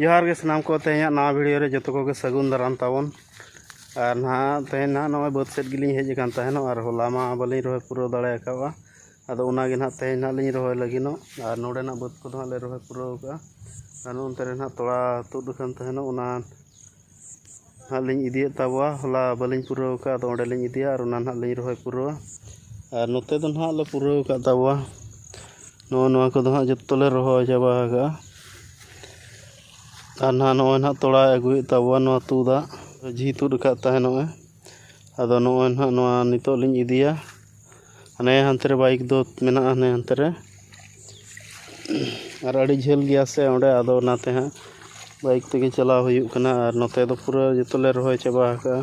ᱡᱚᱦᱟᱨ ᱜᱮ ᱥᱟᱱᱟᱢ ᱠᱚ ᱛᱮᱦᱮᱧᱟᱜ ᱱᱟᱣᱟ ᱵᱷᱤᱰᱤᱭᱳ ᱨᱮ ᱡᱚᱛᱚ ᱠᱚᱜᱮ ᱥᱟᱹᱜᱩᱱ ᱫᱟᱨᱟᱢ ᱛᱟᱵᱚᱱ ᱟᱨ ᱱᱟᱦᱟᱜ ᱛᱮᱦᱮᱧ ᱱᱟᱦᱟᱜ ᱱᱚᱜᱼᱚᱭ ᱵᱟᱹᱫᱽ ᱥᱮᱫ ᱜᱮᱞᱤᱧ ᱦᱮᱡ ᱟᱠᱟᱱ ᱛᱟᱦᱮᱱᱚᱜ ᱟᱨ ᱦᱚᱞᱟ ᱢᱟ ᱵᱟᱹᱞᱤᱧ ᱨᱚᱦᱚᱭ ᱯᱩᱨᱟᱹᱣ ᱫᱟᱲᱮ ᱟᱠᱟᱫᱼᱟ ᱟᱫᱚ ᱚᱱᱟᱜᱮ ᱱᱟᱦᱟᱜ ᱛᱮᱦᱮᱧ ᱱᱟᱦᱟᱜ ᱞᱤᱧ ᱨᱚᱦᱚᱭ ᱞᱟᱹᱜᱤᱫᱚᱜ ᱟᱨ ᱱᱚᱰᱮᱱᱟᱜ ᱵᱟᱹᱫᱽ ᱠᱚᱫᱚ ᱦᱟᱸᱜ ᱞᱮ ᱨᱚᱦᱚᱭ ᱯᱩᱨᱟᱹᱣ ᱟᱠᱟᱫᱼᱟ ᱟᱨ ᱱᱚᱱᱛᱮ ᱨᱮ ᱱᱟᱦᱟᱜ ᱛᱚᱲᱟ ᱛᱩᱫ ᱟᱠᱟᱱ ᱛᱟᱦᱮᱱᱚᱜ ᱚᱱᱟ ᱦᱟᱸᱜ ᱞᱤᱧ ᱤᱫᱤᱭᱮᱫ ᱛᱟᱵᱚᱣᱟ ᱦᱚᱞᱟ ᱵᱟᱹᱞᱤᱧ ᱯᱩᱨᱟᱹᱣ ᱠᱟᱜᱼᱟ ᱟᱫᱚ ᱚᱸᱰᱮ ᱞᱤᱧ ᱤᱫᱤᱭᱟ ᱟᱨ ᱚᱱᱟ ᱦᱟᱸᱜ ᱞᱤᱧ ᱨᱚᱦᱚᱭ ᱯᱩᱨᱟᱹᱣᱟ ᱟᱨ ᱱᱚᱛᱮ ᱫᱚ ᱦᱟᱸᱜ ᱞᱮ ᱯᱩᱨᱟᱹᱣ ᱠᱟᱜ ᱛᱟᱵᱚᱣᱟ ᱱᱚᱜᱼᱚ ᱱᱚᱣᱟ ᱠᱚᱫᱚ ᱦᱟᱸᱜ ᱡᱚᱛᱚ ᱞᱮ ᱨᱚᱦᱚᱭ ᱪᱟᱵᱟ ᱠᱟᱜᱼᱟ ᱟᱨ ᱱᱟᱜ ᱱᱚᱜᱼᱚᱭ ᱱᱟᱜ ᱛᱚᱲᱟᱭ ᱟᱹᱜᱩᱭᱮᱫ ᱛᱟᱵᱚᱣᱟ ᱱᱚᱣᱟ ᱛᱩᱫᱟᱜ ᱡᱷᱤ ᱛᱩᱫ ᱠᱟᱜ ᱛᱟᱦᱮᱱᱚᱜᱼᱮ ᱟᱫᱚ ᱱᱚᱜᱼᱚᱭ ᱱᱟᱦᱟᱜ ᱱᱚᱣᱟ ᱱᱤᱛᱳᱜ ᱞᱤᱧ ᱤᱫᱤᱭᱟ ᱦᱟᱱᱮ ᱦᱟᱱᱛᱮ ᱨᱮ ᱵᱟᱭᱤᱠ ᱫᱚ ᱢᱮᱱᱟᱜᱼᱟ ᱦᱟᱱᱮ ᱦᱟᱱᱛᱮ ᱨᱮ ᱟᱨ ᱟᱹᱰᱤ ᱡᱷᱟᱹᱞ ᱜᱮᱭᱟ ᱥᱮ ᱚᱸᱰᱮ ᱟᱫᱚ ᱚᱱᱟᱛᱮ ᱦᱟᱸᱜ ᱵᱟᱭᱤᱠ ᱛᱮᱜᱮ ᱪᱟᱞᱟᱣ ᱦᱩᱭᱩᱜ ᱠᱟᱱᱟ ᱟᱨ ᱱᱚᱛᱮ ᱫᱚ ᱯᱩᱨᱟᱹ ᱡᱚᱛᱚ ᱞᱮ ᱨᱚᱦᱚᱭ ᱪᱟᱵᱟ ᱟᱠᱟᱫᱼᱟ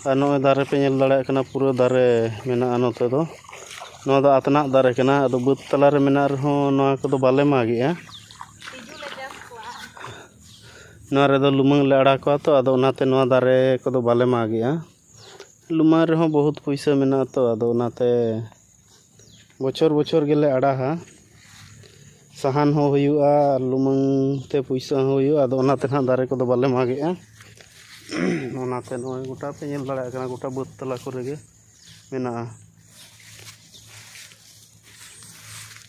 ᱟᱨ ᱱᱚᱜᱼᱚᱭ ᱫᱟᱨᱮ ᱯᱮ ᱧᱮᱞ ᱫᱟᱲᱮᱭᱟᱜ ᱠᱟᱱᱟ ᱯᱩᱨᱟᱹ ᱫᱟᱨᱮ ᱢᱮᱱᱟᱜᱼᱟ ᱱᱚᱛᱮ ᱫᱚ ᱱᱚᱣᱟ ᱫᱚ ᱟᱛᱱᱟᱜ ᱫᱟᱨᱮ ᱠᱟᱱᱟ ᱟᱫᱚ ᱵᱟᱹᱫᱽ ᱛᱟᱞᱟ ᱨᱮ ᱢᱮᱱᱟᱜ ᱨᱮᱦᱚᱸ ᱱᱚᱣᱟ ᱠᱚᱫᱚ ᱵᱟᱞᱮ ᱢᱟᱜᱮᱫᱼᱟ ᱱᱚᱣᱟ ᱨᱮᱫᱚ ᱞᱩᱢᱟᱹᱝ ᱞᱮ ᱟᱲᱟᱜ ᱠᱚᱣᱟ ᱛᱚ ᱟᱫᱚ ᱚᱱᱟᱛᱮ ᱱᱚᱣᱟ ᱫᱟᱨᱮ ᱠᱚᱫᱚ ᱵᱟᱞᱮ ᱢᱟᱜᱽ ᱮᱜᱼᱟ ᱞᱩᱢᱟᱹᱝ ᱨᱮᱦᱚᱸ ᱵᱚᱦᱩᱫ ᱯᱚᱭᱥᱟ ᱢᱮᱱᱟᱜ ᱟᱛᱚ ᱟᱫᱚ ᱚᱱᱟᱛᱮ ᱵᱚᱪᱷᱚᱨ ᱵᱚᱪᱷᱚᱨ ᱜᱮᱞᱮ ᱟᱲᱟᱜᱟ ᱥᱟᱦᱟᱱ ᱦᱚᱸ ᱦᱩᱭᱩᱜᱼᱟ ᱟᱨ ᱞᱩᱢᱟᱹᱝ ᱛᱮ ᱯᱚᱭᱥᱟ ᱦᱚᱸ ᱦᱩᱭᱩᱜᱼᱟ ᱟᱫᱚ ᱚᱱᱟᱛᱮ ᱱᱟᱦᱟᱜ ᱫᱟᱨᱮ ᱠᱚᱫᱚ ᱵᱟᱞᱮ ᱢᱟᱜᱽ ᱮᱜᱼᱟ ᱚᱱᱟᱛᱮ ᱱᱚᱜᱼᱚᱭ ᱜᱳᱴᱟ ᱯᱮ ᱧᱮᱞ ᱫᱟᱲᱮᱭᱟᱜ ᱠᱟᱱᱟ ᱜᱳᱴᱟ ᱵᱟᱹᱫᱽ ᱛᱟᱞᱟ ᱠᱚᱨᱮ ᱜᱮ ᱢᱮᱱᱟᱜᱼᱟ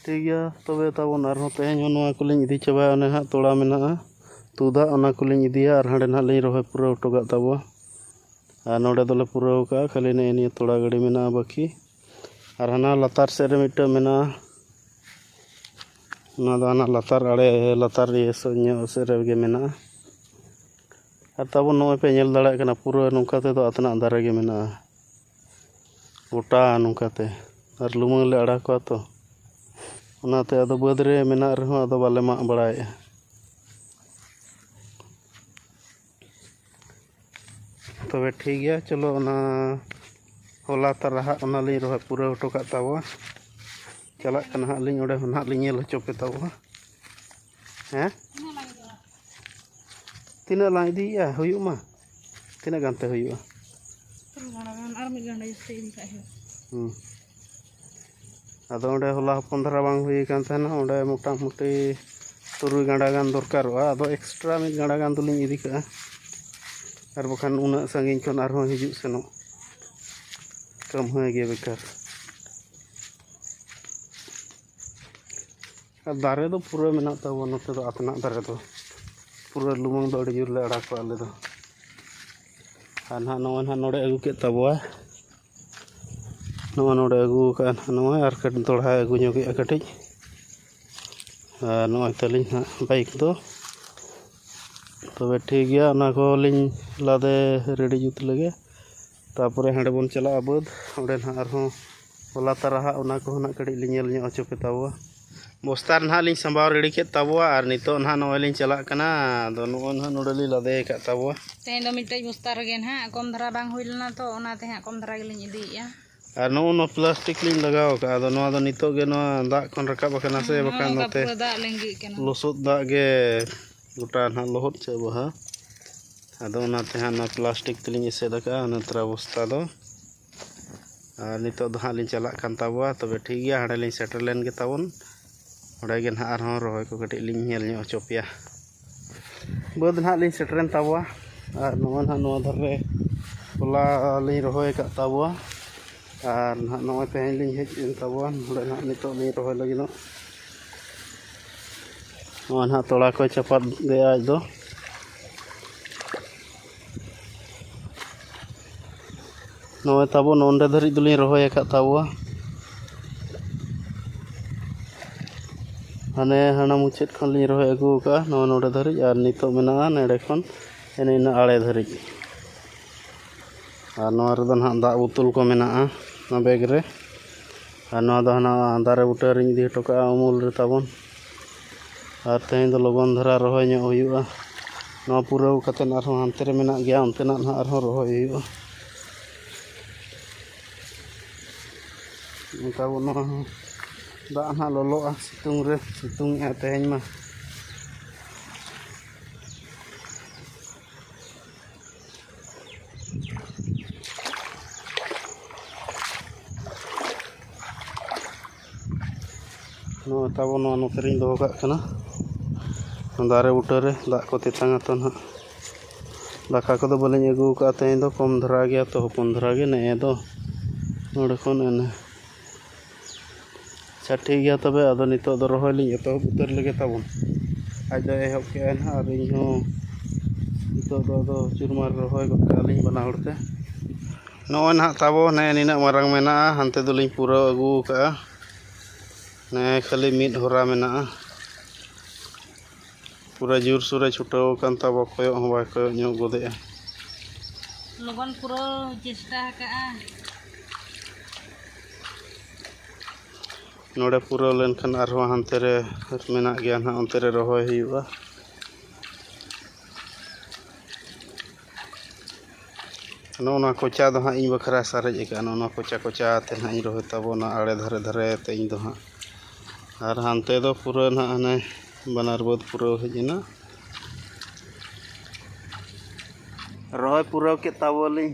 ᱴᱷᱤᱠ ᱜᱮᱭᱟ ᱛᱚᱵᱮ ᱛᱟᱵᱚᱱ ᱟᱨᱦᱚᱸ ᱛᱮᱦᱮᱧ ᱦᱚᱸ ᱱᱚᱣᱟ ᱠᱚᱞᱤᱧ ᱤᱫᱤ ᱪᱟᱵᱟᱭᱟ ᱚᱱᱮ ᱦᱟᱸᱜ ᱛᱚᱲᱟ ᱢᱮᱱᱟᱜᱼᱟ ᱛᱩᱫᱟ ᱚᱱᱟ ᱠᱚᱞᱤᱧ ᱤᱫᱤᱭᱟ ᱟᱨ ᱦᱟᱸᱰᱮ ᱱᱟᱜ ᱞᱤᱧ ᱨᱚᱦᱚᱭ ᱯᱩᱨᱟᱹᱣ ᱦᱚᱴᱚ ᱠᱟᱜ ᱛᱟᱵᱚᱣᱟ ᱟᱨ ᱱᱚᱰᱮ ᱫᱚᱞᱮ ᱯᱩᱨᱟᱹᱣ ᱠᱟᱜᱼᱟ ᱠᱷᱟᱹᱞᱤ ᱱᱮᱜᱼᱮ ᱱᱤᱭᱟᱹ ᱛᱚᱲᱟ ᱜᱟᱹᱰᱤ ᱢᱮᱱᱟᱜᱼᱟ ᱵᱟᱹᱠᱤ ᱟᱨ ᱦᱟᱱᱟ ᱞᱟᱛᱟᱨ ᱥᱮᱫ ᱨᱮ ᱢᱤᱫᱴᱟᱝ ᱢᱮᱱᱟᱜᱼᱟ ᱚᱱᱟ ᱫᱚ ᱦᱟᱱᱟ ᱞᱟᱛᱟᱨ ᱟᱲᱮ ᱞᱟᱛᱟᱨ ᱤᱭᱟᱹ ᱥᱮᱫ ᱧᱚᱜ ᱥᱮᱫ ᱨᱮᱜᱮ ᱢᱮᱱᱟᱜᱼᱟ ᱟᱨ ᱛᱟᱵᱚᱱ ᱱᱚᱜᱼᱚᱭ ᱯᱮ ᱧᱮᱞ ᱫᱟᱲᱮᱭᱟᱜ ᱠᱟᱱᱟ ᱯᱩᱨᱟᱹ ᱱᱚᱝᱠᱟ ᱛᱮᱫᱚ ᱟᱛᱱᱟᱜ ᱫᱟᱨᱮ ᱜᱮ ᱢᱮᱱᱟᱜᱼᱟ ᱜᱚᱴᱟ ᱱᱚᱝᱠᱟ ᱛᱮ ᱟᱨ ᱞᱩᱢᱟᱹᱝ ᱞᱮ ᱟᱲᱟᱜ ᱠᱚᱣᱟ ᱛᱚ ᱚᱱᱟᱛᱮ ᱟᱫᱚ ᱵᱟᱹᱫᱽ ᱨᱮ ᱢᱮᱱᱟᱜ ᱨᱮᱦᱚᱸ ᱟᱫᱚ ᱵᱟᱞᱮ ᱢᱟᱜ ᱵᱟᱲᱟᱭᱮᱫᱼᱟ ᱛᱚᱵᱮ ᱴᱷᱤᱠ ᱜᱮᱭᱟ ᱪᱚᱞᱚ ᱚᱱᱟ ᱦᱚᱞᱟ ᱛᱟᱨᱟᱦᱟᱜ ᱚᱱᱟᱞᱤᱧ ᱨᱚᱦᱚᱭ ᱯᱩᱨᱟᱹᱣ ᱦᱚᱴᱚ ᱠᱟᱜ ᱛᱟᱵᱚᱣᱟ ᱪᱟᱞᱟᱜ ᱠᱟᱱᱟ ᱦᱟᱸᱜ ᱞᱤᱧ ᱚᱸᱰᱮ ᱦᱚᱸ ᱦᱟᱸᱜ ᱞᱤᱧ ᱧᱮᱞ ᱦᱚᱪᱚ ᱯᱮ ᱛᱟᱵᱚᱱᱟ ᱦᱮᱸ ᱛᱤᱱᱟᱹᱜ ᱞᱟᱝ ᱤᱫᱤᱭᱮᱜᱼᱟ ᱦᱩᱭᱩᱜ ᱢᱟ ᱛᱤᱱᱟᱹᱜ ᱜᱟᱱ ᱛᱮ ᱦᱩᱭᱩᱜᱼᱟ ᱟᱨ ᱢᱤᱫ ᱜᱟᱱᱰᱟ ᱡᱟᱹᱥᱛᱤ ᱤᱫᱤ ᱠᱟᱜ ᱦᱩᱭᱩᱜᱼᱟ ᱦᱩᱸ ᱟᱫᱚ ᱚᱸᱰᱮ ᱦᱚᱞᱟ ᱦᱚᱯᱚᱱ ᱫᱷᱟᱨᱟ ᱵᱟᱝ ᱦᱩᱭ ᱠᱟᱱ ᱛᱟᱦᱮᱱᱟ ᱚᱸᱰᱮ ᱢᱚᱴᱟᱢᱩᱴᱤ ᱛᱩᱨᱩᱭ ᱜᱟᱸᱰᱟ ᱜᱟᱱ ᱫᱚᱨᱠᱟᱨᱚᱜᱼᱟ ᱟᱫᱚ ᱮᱠᱥᱴᱨᱟ ᱢᱤᱫ ᱜᱟᱸᱰᱟ ᱜᱟᱱ ᱫᱚᱞᱤᱧ ᱤᱫᱤ ᱠᱟᱜᱼᱟ ᱟᱨ ᱵᱟᱠᱷᱟᱱ ᱩᱱᱟᱹᱜ ᱥᱟᱺᱜᱤᱧ ᱠᱷᱚᱱ ᱟᱨᱦᱚᱸ ᱦᱤᱡᱩᱜ ᱥᱮᱱᱚᱜ ᱠᱟᱹᱢᱦᱟᱹᱭ ᱜᱮ ᱵᱮᱠᱟᱨ ᱫᱟᱨᱮ ᱫᱚ ᱯᱩᱨᱟᱹ ᱢᱮᱱᱟᱜ ᱛᱟᱵᱚᱱᱟ ᱱᱚᱛᱮ ᱫᱚ ᱟᱛᱱᱟᱜ ᱫᱟᱨᱮ ᱫᱚ ᱯᱩᱨᱟᱹ ᱞᱩᱢᱟᱹᱝ ᱫᱚ ᱟᱹᱰᱤ ᱡᱳᱨ ᱞᱮ ᱟᱲᱟᱜᱟ ᱟᱞᱮ ᱫᱚ ᱟᱨ ᱱᱟᱦᱟᱜ ᱱᱚᱜᱼᱚᱭ ᱱᱟᱦᱟᱜ ᱱᱚᱰᱮ ᱟᱹᱜᱩ ᱠᱮᱫ ᱛᱟᱵᱚᱣᱟ ᱱᱚᱜᱼᱚᱭ ᱱᱚᱰᱮ ᱟᱹᱜᱩ ᱠᱟᱜᱼᱟ ᱱᱟᱦᱟᱜ ᱱᱚᱣᱟ ᱟᱨ ᱠᱟᱹᱴᱤᱡ ᱫᱚᱦᱲᱟᱭ ᱟᱹᱜᱩ ᱧᱚᱜᱮᱜᱼᱟ ᱠᱟᱹᱴᱤᱡ ᱟᱨ ᱱᱚᱜᱼᱚᱭ ᱛᱟᱹᱞᱤᱧ ᱱᱟᱦᱟᱜ ᱵᱟᱭᱤᱠ ᱫᱚ ᱛᱚᱵᱮ ᱴᱷᱤᱠ ᱜᱮᱭᱟ ᱚᱱᱟ ᱠᱚᱦᱚᱸ ᱞᱤᱧ ᱞᱟᱫᱮ ᱨᱮᱰᱤ ᱡᱩᱛ ᱞᱮᱜᱮ ᱛᱟᱨᱯᱚᱨᱮ ᱦᱟᱸᱰᱮ ᱵᱚᱱ ᱪᱟᱞᱟᱜᱼᱟ ᱵᱟᱹᱫᱽ ᱚᱸᱰᱮ ᱱᱟᱦᱟᱜ ᱟᱨᱦᱚᱸ ᱦᱚᱞᱟ ᱛᱟᱨᱟᱦᱟᱜ ᱚᱱᱟ ᱠᱚᱦᱚᱸ ᱱᱟᱦᱟᱜ ᱠᱟᱹᱴᱤᱡ ᱞᱤᱧ ᱧᱮᱞ ᱧᱚᱜ ᱦᱚᱪᱚ ᱯᱮ ᱛᱟᱵᱚᱣᱟ ᱵᱚᱥᱛᱟ ᱨᱮ ᱱᱟᱦᱟᱜ ᱞᱤᱧ ᱥᱟᱢᱵᱟᱣ ᱨᱮᱰᱤ ᱠᱮᱫ ᱛᱟᱵᱚᱣᱟ ᱟᱨ ᱱᱤᱛᱚᱜ ᱱᱟᱦᱟᱜ ᱱᱚᱜᱼᱚᱭ ᱞᱤᱧ ᱪᱟᱞᱟᱜ ᱠᱟᱱᱟ ᱟᱫᱚ ᱱᱚᱜᱼᱚᱭ ᱱᱟᱦᱟᱜ ᱱᱚᱰᱮ ᱞᱤᱧ ᱞᱟᱫᱮ ᱟᱠᱟᱫ ᱛᱟᱵᱚᱣᱟ ᱛᱮᱦᱮᱧ ᱫᱚ ᱢᱤᱫᱴᱮᱡ ᱵᱚᱥᱛᱟ ᱨᱮᱜᱮ ᱱᱟᱦᱟᱜ ᱠᱚᱢ ᱫᱷᱟᱨᱟ ᱵᱟᱝ ᱦᱩᱭ ᱞᱮᱱᱟ ᱛᱚ ᱚᱱᱟᱛᱮ ᱦᱟᱸᱜ ᱠᱚᱢ ᱫᱷᱟᱨᱟ ᱜᱮᱞᱤᱧ ᱤᱫᱤᱭᱮᱫᱼᱟ ᱟᱨ ᱱᱚᱜᱼᱚ ᱱᱚᱣᱟ ᱯᱞᱟᱥᱴᱤᱠ ᱞᱤᱧ ᱞᱟᱜᱟᱣ ᱟᱠᱟᱫᱼᱟ ᱟᱫᱚ ᱱᱚᱣᱟ ᱫᱚ ᱱᱤᱛᱚᱜ ᱜᱮ ᱱᱚᱣᱟ ᱫᱟᱜ ᱠᱷᱚᱱ ᱨᱟᱠᱟᱵ ᱟᱠᱟᱱᱟ ᱥᱮ ᱵᱟᱠᱷᱟᱱ ᱱᱚᱛᱮ ᱞᱚᱥᱚᱫ ᱫᱟᱜ ᱜᱮ ᱜᱚᱴᱟ ᱱᱟᱦᱟᱜ ᱞᱚᱦᱚᱫ ᱪᱟᱵᱟᱜᱼᱟ ᱟᱫᱚ ᱚᱱᱟᱛᱮ ᱦᱟᱸᱜ ᱚᱱᱟ ᱯᱞᱟᱥᱴᱤᱠ ᱛᱮᱞᱤᱧ ᱮᱥᱮᱫ ᱟᱠᱟᱫᱼᱟ ᱚᱱᱟ ᱛᱨᱟ ᱵᱚᱥᱛᱟ ᱫᱚ ᱟᱨ ᱱᱤᱛᱚᱜ ᱫᱚ ᱦᱟᱸᱜ ᱞᱤᱧ ᱪᱟᱞᱟᱜ ᱠᱟᱱ ᱛᱟᱵᱚᱣᱟ ᱛᱚᱵᱮ ᱴᱷᱤᱠ ᱜᱮᱭᱟ ᱦᱟᱸᱰᱮ ᱞᱤᱧ ᱥᱮᱴᱮᱨ ᱞᱮᱱ ᱜᱮ ᱛᱟᱵᱚᱱ ᱚᱸᱰᱮ ᱜᱮ ᱱᱟᱦᱟᱜ ᱟᱨᱦᱚᱸ ᱨᱚᱦᱚᱭ ᱠᱚ ᱠᱟᱹᱴᱤᱡ ᱞᱤᱧ ᱧᱮᱞ ᱧᱚᱜ ᱦᱚᱪᱚ ᱯᱮᱭᱟ ᱵᱟᱹᱫᱽ ᱱᱟᱦᱟᱜ ᱞᱤᱧ ᱥᱮᱴᱮᱨᱮᱱ ᱛᱟᱵᱚᱣᱟ ᱟᱨ ᱱᱚᱣᱟ ᱱᱟᱦᱟᱜ ᱱᱚᱣᱟ ᱫᱷᱟᱨᱮ ᱦᱚᱞᱟ ᱞᱤᱧ ᱨᱚᱦᱚᱭ ᱟᱠᱟᱫ ᱛᱟᱵᱚᱣᱟ ᱟᱨ ᱱᱟᱦᱟᱜ ᱱᱚᱜᱼᱚᱭ ᱛᱮᱦᱮᱧ ᱞᱤᱧ ᱦᱮᱡ ᱮᱱ ᱛᱟᱵᱚᱣᱟ ᱱᱚᱰᱮ ᱱᱟᱦᱟᱜ ᱱᱤᱛᱚᱜ ᱞᱤᱧ ᱨᱚᱦᱚᱭ ᱞᱟᱹᱜᱤᱫᱚᱜ ᱱᱚᱣᱟ ᱱᱟᱦᱟᱜ ᱛᱚᱲᱟ ᱠᱚᱭ ᱪᱟᱯᱟᱫ ᱞᱮᱜᱼᱟ ᱟᱡ ᱫᱚ ᱱᱚᱜᱼᱚᱭ ᱛᱟᱵᱚ ᱱᱚᱸᱰᱮ ᱫᱷᱟᱹᱨᱤᱡ ᱫᱚᱞᱤᱧ ᱨᱚᱦᱚᱭ ᱟᱠᱟᱫ ᱛᱟᱵᱚᱣᱟ ᱦᱟᱱᱮ ᱦᱟᱱᱟ ᱢᱩᱪᱟᱹᱫ ᱠᱷᱚᱱ ᱞᱤᱧ ᱨᱚᱦᱚᱭ ᱟᱹᱜᱩ ᱟᱠᱟᱫᱼᱟ ᱱᱚᱣᱟ ᱱᱚᱸᱰᱮ ᱫᱷᱟᱹᱨᱤᱡ ᱟᱨ ᱱᱤᱛᱚᱜ ᱢᱮᱱᱟᱜᱼᱟ ᱱᱚᱸᱰᱮ ᱠᱷᱚᱱ ᱮᱱᱮ ᱤᱱᱟᱹ ᱟᱲᱮ ᱫᱷᱟᱹᱨᱤᱡ ᱟᱨ ᱱᱚᱣᱟ ᱨᱮᱫᱚ ᱱᱟᱦᱟᱜ ᱫᱟᱜ ᱵᱳᱛᱳᱞ ᱠᱚ ᱢᱮᱱᱟᱜᱼᱟ ᱱᱚᱣᱟ ᱵᱮᱜᱽ ᱨᱮ ᱟᱨ ᱱᱚᱣᱟ ᱫᱚ ᱦᱟᱱᱟ ᱫᱟᱨᱮ ᱵᱩᱴᱟᱹ ᱨᱤᱧ ᱤᱫᱤ ᱦᱚᱴᱚ ᱠᱟᱜᱼᱟ ᱩᱢᱩᱞ ᱨᱮ ᱛᱟᱵᱚᱱ ᱟᱨ ᱛᱮᱦᱮᱧ ᱫᱚ ᱞᱚᱜᱚᱱ ᱫᱷᱟᱨᱟ ᱨᱚᱦᱚᱭ ᱧᱚᱜ ᱦᱩᱭᱩᱜᱼᱟ ᱱᱚᱣᱟ ᱯᱩᱨᱟᱹᱣ ᱠᱟᱛᱮᱫ ᱟᱨᱦᱚᱸ ᱦᱟᱱᱛᱮ ᱨᱮ ᱢᱮᱱᱟᱜ ᱜᱮᱭᱟ ᱚᱱᱛᱮᱱᱟᱜ ᱦᱟᱸᱜ ᱟᱨᱦᱚᱸ ᱨᱚᱦᱚᱭ ᱦᱩᱭᱩᱜᱼᱟ ᱚᱱᱠᱟ ᱵᱚᱱ ᱱᱚᱣᱟ ᱦᱚᱸ ᱫᱟᱜ ᱦᱟᱸᱜ ᱞᱚᱞᱚᱜᱼᱟ ᱥᱤᱛᱩᱝ ᱨᱮ ᱥᱤᱛᱩᱝ ᱮᱜᱼᱟ ᱛᱮᱦᱮᱧ ᱢᱟ ᱱᱚᱣᱟ ᱛᱟᱵᱚ ᱱᱚᱣᱟ ᱱᱚᱛᱮ ᱨᱤᱧ ᱫᱚᱦᱚ ᱠᱟᱜ ᱠᱟᱱᱟ ᱫᱟᱨᱮ ᱵᱩᱴᱟᱹᱨᱮ ᱫᱟᱜ ᱠᱚ ᱛᱮᱛᱟᱝ ᱟᱛᱚ ᱱᱟᱦᱟᱜ ᱫᱟᱠᱟ ᱠᱚᱫᱚ ᱵᱟᱹᱞᱤᱧ ᱟᱹᱜᱩ ᱠᱟᱜᱼᱟ ᱛᱮᱦᱮᱧ ᱫᱚ ᱠᱚᱢ ᱫᱷᱟᱨᱟ ᱜᱮᱭᱟ ᱛᱚ ᱦᱚᱯᱚᱱ ᱫᱷᱟᱨᱟ ᱜᱮ ᱱᱮᱜᱼᱮ ᱫᱚ ᱱᱚᱰᱮ ᱠᱷᱚᱱ ᱮᱱᱮ ᱟᱪᱪᱷᱟ ᱴᱷᱤᱠ ᱜᱮᱭᱟ ᱛᱚᱵᱮ ᱟᱫᱚ ᱱᱤᱛᱳᱜ ᱫᱚ ᱨᱚᱦᱚᱭ ᱞᱤᱧ ᱮᱛᱚᱦᱚᱵ ᱩᱛᱟᱹᱨ ᱞᱮᱜᱮ ᱛᱟᱵᱚᱱ ᱟᱡ ᱫᱚᱭ ᱮᱦᱚᱵ ᱠᱮᱜᱼᱟ ᱱᱟᱜ ᱟᱨ ᱤᱧ ᱦᱚᱸ ᱱᱤᱛᱳᱜ ᱫᱚ ᱟᱫᱚ ᱪᱩᱨᱢᱟᱨ ᱨᱚᱦᱚᱭ ᱜᱚᱫ ᱠᱟᱜᱼᱟ ᱞᱤᱧ ᱵᱟᱱᱟ ᱦᱚᱲ ᱛᱮ ᱱᱚᱜᱼᱚᱭ ᱱᱟᱜ ᱛᱟᱵᱚ ᱱᱮᱜᱼᱮ ᱱᱤᱱᱟᱹᱜ ᱢᱟᱨᱟᱝ ᱢᱮᱱᱟᱜᱼᱟ ᱦᱟᱱᱛᱮ ᱫᱚᱞᱤᱧ ᱯᱩᱨᱟᱹᱣ ᱟᱹᱜᱩ ᱠᱟᱜᱼᱟ ᱱᱮᱜᱼᱮ ᱠᱷᱟᱹᱞᱤ ᱢᱤᱫ ᱦᱚᱨᱟ ᱢᱮᱱᱟᱜᱼᱟ ᱯᱩᱨᱟᱹ ᱡᱳᱨ ᱥᱳᱨᱮ ᱪᱷᱩᱴᱟᱹᱣ ᱟᱠᱟᱱ ᱛᱟᱵᱚ ᱠᱚᱭᱚᱜ ᱦᱚᱸ ᱵᱟᱭ ᱠᱚᱭᱚᱜ ᱧᱚᱜ ᱜᱚᱫᱮᱜᱼᱟ ᱞᱚᱜᱚᱱ ᱯᱩᱨᱟᱹᱣ ᱪᱮᱥᱴᱟ ᱟᱠᱟᱜᱼᱟ ᱱᱚᱰᱮ ᱯᱩᱨᱟᱹᱣ ᱞᱮᱱᱠᱷᱟᱱ ᱟᱨᱦᱚᱸ ᱦᱟᱱᱛᱮ ᱨᱮ ᱢᱮᱱᱟᱜ ᱜᱮᱭᱟ ᱱᱟᱦᱟᱜ ᱚᱱᱛᱮ ᱨᱮ ᱨᱚᱦᱚᱭ ᱦᱩᱭᱩᱜᱼᱟ ᱱᱚᱜᱼᱚ ᱱᱚᱣᱟ ᱠᱚᱪᱟ ᱫᱚ ᱦᱟᱸᱜ ᱤᱧ ᱵᱟᱠᱷᱨᱟ ᱥᱟᱨᱮᱡ ᱟᱠᱟᱱᱟ ᱱᱚᱜᱼᱚ ᱱᱚᱣᱟ ᱠᱚᱪᱟ ᱠᱚᱪᱟ ᱛᱮ ᱦᱟᱸᱜ ᱤᱧ ᱨᱚᱦᱚᱭ ᱛᱟᱵᱚᱱᱟ ᱟᱬᱮ ᱫᱷᱟᱨᱮ ᱫᱷᱟᱨᱮ ᱛᱮ ᱤᱧ ᱫᱚ ᱦᱟᱸᱜ ᱟᱨ ᱦᱟᱱᱛᱮ ᱫᱚ ᱯᱩᱨᱟᱹ ᱱᱟᱜ ᱦᱟᱱᱮ ᱵᱟᱱᱟᱨ ᱵᱟᱹᱫᱽ ᱯᱩᱨᱟᱹᱣ ᱦᱮᱡ ᱮᱱᱟ ᱨᱚᱦᱚᱭ ᱯᱩᱨᱟᱹᱣ ᱠᱮᱫ ᱛᱟᱵᱚᱣᱟᱞᱤᱧ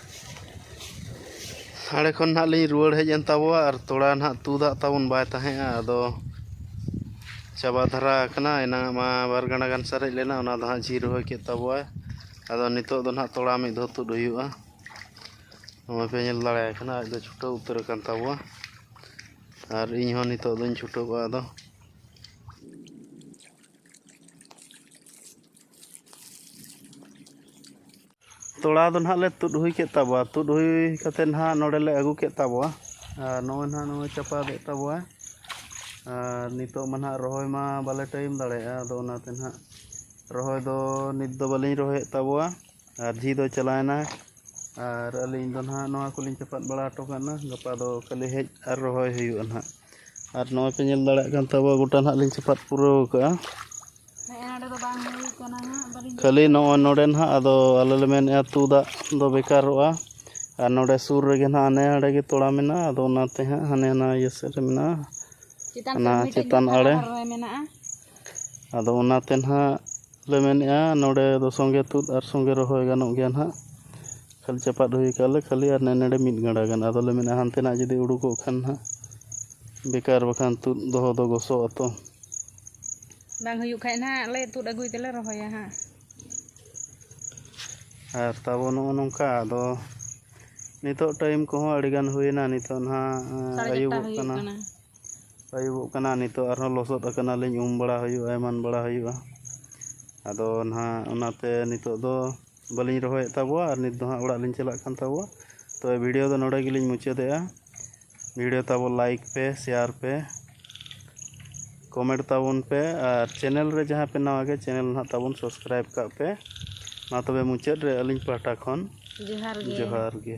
ᱟᱲᱮ ᱠᱷᱚᱱ ᱱᱟᱜ ᱞᱤᱧ ᱨᱩᱣᱟᱹᱲ ᱦᱮᱡ ᱮᱱ ᱛᱟᱵᱚᱣᱟ ᱟᱨ ᱛᱚᱲᱟ ᱱᱟᱜ ᱛᱩᱫ ᱟᱜ ᱛᱟᱵᱚᱱ ᱵᱟᱭ ᱛᱟᱦᱮᱸᱜᱼᱟ ᱟᱫᱚ ᱪᱟᱵᱟ ᱫᱷᱟᱨᱟ ᱟᱠᱟᱱᱟ ᱮᱱᱟᱝ ᱟᱜ ᱢᱟ ᱵᱟᱨ ᱜᱟᱱᱰᱟ ᱜᱟᱱ ᱥᱟᱨᱮᱡ ᱞᱮᱱᱟ ᱚᱱᱟ ᱫᱚ ᱦᱟᱸᱜ ᱡᱷᱤ ᱨᱚᱦᱚᱭ ᱠᱮᱫ ᱛᱟᱵᱚᱣᱟᱭ ᱟᱫᱚ ᱱᱤᱛᱚᱜ ᱫᱚ ᱱᱟᱜ ᱛᱚᱲᱟ ᱢᱤᱫ ᱫᱷᱟᱣ ᱛᱩᱫ ᱦᱩᱭᱩᱜᱼᱟ ᱱᱚᱜᱼᱚᱭ ᱯᱮ ᱧᱮᱞ ᱫᱟᱲᱮᱭᱟᱭ ᱠᱟᱱᱟ ᱟᱡ ᱫᱚ ᱪᱷᱩᱴᱟᱹᱣ ᱩᱛᱟᱹᱨ ᱟᱠᱟᱱ ᱛᱟᱵᱚᱣᱟ ᱟᱨ ᱤᱧ ᱦᱚᱸ ᱱᱤᱛᱚᱜ ᱫᱚᱧ ᱪᱷᱩᱴᱟᱹᱣᱼᱟ ᱟᱫᱚ ᱛᱚᱲᱟ ᱫᱚ ᱱᱟᱦᱟᱜ ᱞᱮ ᱛᱩᱫ ᱦᱩᱭ ᱠᱮᱫ ᱛᱟᱵᱚᱣᱟ ᱛᱩᱫ ᱦᱩᱭ ᱠᱟᱛᱮ ᱱᱟᱦᱟᱜ ᱱᱚᱰᱮ ᱞᱮ ᱟᱹᱜᱩ ᱠᱮᱫ ᱛᱟᱵᱚᱣᱟ ᱟᱨ ᱱᱚᱜᱼᱚᱭ ᱱᱟᱦᱟᱜ ᱱᱚᱜᱼᱚᱭ ᱪᱟᱯᱟᱫᱮᱫ ᱛᱟᱵᱚᱣᱟᱭ ᱟᱨ ᱱᱤᱛᱚᱜ ᱢᱟ ᱱᱟᱦᱟᱜ ᱨᱚᱦᱚᱭ ᱢᱟ ᱵᱟᱞᱮ ᱴᱟᱭᱤᱢ ᱫᱟᱲᱮᱭᱟᱜᱼᱟ ᱟᱫᱚ ᱚᱱᱟᱛᱮ ᱱᱟᱦᱟᱜ ᱨᱚᱦᱚᱭ ᱫᱚ ᱱᱤᱛ ᱫᱚ ᱵᱟᱹᱞᱤᱧ ᱨᱚᱦᱚᱭᱮᱫ ᱛᱟᱵᱚᱣᱟ ᱟᱨ ᱡᱷᱤ ᱫᱚᱭ ᱪᱟᱞᱟᱣᱮᱱᱟ ᱟᱨ ᱟᱹᱞᱤᱧ ᱫᱚ ᱱᱟᱦᱟᱜ ᱱᱚᱣᱟ ᱠᱚᱞᱤᱧ ᱪᱟᱯᱟᱫ ᱵᱟᱲᱟ ᱦᱚᱴᱚ ᱠᱟᱜᱼᱟ ᱜᱟᱯᱟ ᱫᱚ ᱠᱷᱟᱹᱞᱤ ᱦᱮᱡ ᱟᱨ ᱨᱚᱦᱚᱭ ᱦᱩᱭᱩᱜᱼᱟ ᱱᱟᱦᱟᱜ ᱟᱨ ᱱᱚᱜᱼᱚᱭ ᱯᱮ ᱧᱮᱞ ᱫᱟᱲᱮᱭᱟᱜ ᱠᱟᱱ ᱛᱟᱵᱚᱣᱟ ᱜᱚᱴᱟ ᱱᱟᱦᱟᱜ ᱞᱤᱧ ᱪᱟᱯᱟᱫ ᱯᱩᱨᱟᱹᱣ ᱠᱟᱜᱼᱟ ᱠᱷᱟᱹᱞᱤ ᱱᱚᱜᱼᱚᱭ ᱱᱚᱰᱮ ᱱᱟᱦᱟᱜ ᱟᱫᱚ ᱟᱞᱮ ᱞᱮ ᱢᱮᱱᱮᱫᱼᱟ ᱟᱹᱛᱩ ᱫᱟᱜ ᱫᱚ ᱵᱮᱠᱟᱨᱚᱜᱼᱟ ᱟᱨ ᱱᱚᱰᱮ ᱥᱩᱨ ᱨᱮᱜᱮ ᱱᱟᱦᱟᱜ ᱦᱟᱱᱮ ᱦᱟᱸᱰᱮ ᱜᱮ ᱛᱚᱲᱟ ᱢᱮᱱᱟᱜᱼᱟ ᱟᱫᱚ ᱚᱱᱟᱛᱮ ᱦᱟᱸᱜ ᱦᱟᱱᱮ ᱦᱟᱱᱟ ᱤᱭᱟᱹ ᱥᱮᱫ ᱨᱮ ᱢᱮᱱᱟᱜᱼᱟ ᱚᱱᱟ ᱪᱮᱛᱟᱱ ᱟᱲᱮ ᱟᱫᱚ ᱚᱱᱟᱛᱮ ᱱᱟᱦᱟᱜ ᱞᱮ ᱢᱮᱱᱮᱜᱼᱟ ᱱᱚᱰᱮ ᱫᱚ ᱥᱚᱸᱜᱮ ᱛᱩᱫ ᱟᱨ ᱥᱚᱸᱜᱮ ᱨᱚᱦᱚᱭ ᱜᱟᱱᱚᱜ ᱜᱮᱭᱟ ᱱᱟᱜ ᱠᱷᱟᱹᱞᱤ ᱪᱟᱯᱟᱫ ᱦᱩᱭ ᱠᱟᱜᱼᱟ ᱞᱮ ᱠᱷᱟᱹᱞᱤ ᱟᱨ ᱱᱮ ᱱᱮᱰᱮ ᱢᱤᱫ ᱜᱟᱸᱰᱟ ᱜᱟᱱ ᱟᱫᱚᱞᱮ ᱢᱮᱱᱮᱜᱼᱟ ᱦᱟᱱᱛᱮ ᱱᱟᱜ ᱡᱩᱫᱤ ᱩᱰᱩᱠᱚᱜ ᱠᱷᱟᱱ ᱱᱟᱜ ᱵᱮᱠᱟᱨ ᱵᱟᱠᱷᱟᱱ ᱛᱩᱫ ᱫᱚᱦᱚ ᱫᱚ ᱜᱚᱥᱚᱜ ᱟᱛᱚ ᱵᱟᱝ ᱦᱩᱭᱩᱜ ᱠᱷᱟᱡ ᱱᱟᱜ ᱞᱮ ᱛᱩᱫ ᱟᱹᱜᱩᱭ ᱛᱮᱞᱮ ᱨᱚᱦᱚᱭᱟ ᱦᱟᱸᱜ ᱟᱨ ᱛᱟᱵᱚ ᱱᱚᱜᱼᱚ ᱱᱚᱝᱠᱟ ᱟᱫᱚ ᱱᱤᱛᱚᱜ ᱴᱟᱭᱤᱢ ᱠᱚᱦᱚᱸ ᱟᱹᱰᱤᱜᱟᱱ ᱦᱩᱭᱮᱱᱟ ᱱᱤᱛᱚᱜ ᱱᱟᱜ ᱥᱟᱲᱮ ᱪᱟᱨᱴᱟ ᱟᱹᱭᱩᱵᱚᱜ ᱦᱩᱭᱩᱜ ᱠᱟᱱᱟ ᱠᱟᱱᱟ ᱟᱹᱭᱩᱵᱚᱜ ᱠᱟᱱᱟ ᱱᱤᱛᱚᱜ ᱟᱨᱦᱚᱸ ᱞᱚᱥᱚᱫ ᱟᱠᱟᱱᱟᱞᱤᱧ ᱩᱢ ᱵᱟᱲᱟ ᱦᱩᱭᱩᱜᱼᱟ ᱮᱢᱟᱱ ᱵᱟᱲᱟ ᱦᱩᱭᱩᱜᱼᱟ ᱟᱫᱚ ᱱᱟᱦᱟᱜ ᱚᱱᱟᱛᱮ ᱱᱤᱛᱚᱜ ᱫᱚ ᱵᱟᱹᱞᱤᱧ ᱨᱚᱦᱚᱭᱮᱫ ᱛᱟᱵᱚᱣᱟ ᱟᱨ ᱱᱤᱛ ᱫᱚ ᱦᱟᱸᱜ ᱚᱲᱟᱜ ᱞᱤᱧ ᱪᱟᱞᱟᱜ ᱠᱟᱱ ᱛᱟᱵᱚᱣᱟ ᱛᱚᱵᱮ ᱵᱷᱤᱰᱤᱭᱳ ᱫᱚ ᱱᱚᱰᱮ ᱜᱮᱞᱤᱧ ᱢᱩᱪᱟᱹᱫᱮᱜᱼᱟ ᱵᱷᱤᱰᱤᱭᱳ ᱛᱟᱵᱚ ᱞᱟᱭᱤᱠ ᱯᱮ ᱥᱮᱭᱟᱨ ᱯᱮ ᱠᱚᱢᱮᱱᱴ ᱛᱟᱵᱚᱱ ᱯᱮ ᱟᱨ ᱪᱮᱱᱮᱞ ᱨᱮ ᱡᱟᱦᱟᱸᱭ ᱯᱮ ᱱᱟᱣᱟ ᱜᱮᱭᱟ ᱪᱮᱱᱮᱞ ᱱᱟᱦᱟᱜ ᱛᱟᱵᱚᱱ ᱥᱟᱵᱥᱠᱨᱟᱭᱤᱵᱽ ᱠᱟᱜ ᱯᱮ ᱢᱟ ᱛᱚᱵᱮ ᱢᱩᱪᱟᱹᱫ ᱨᱮ ᱟᱹᱞᱤᱧ ᱯᱟᱦᱴᱟ ᱠᱷᱚᱱ ᱡᱚᱦᱟᱨ ᱜᱮ ᱡᱚᱦᱟᱨ ᱜᱮ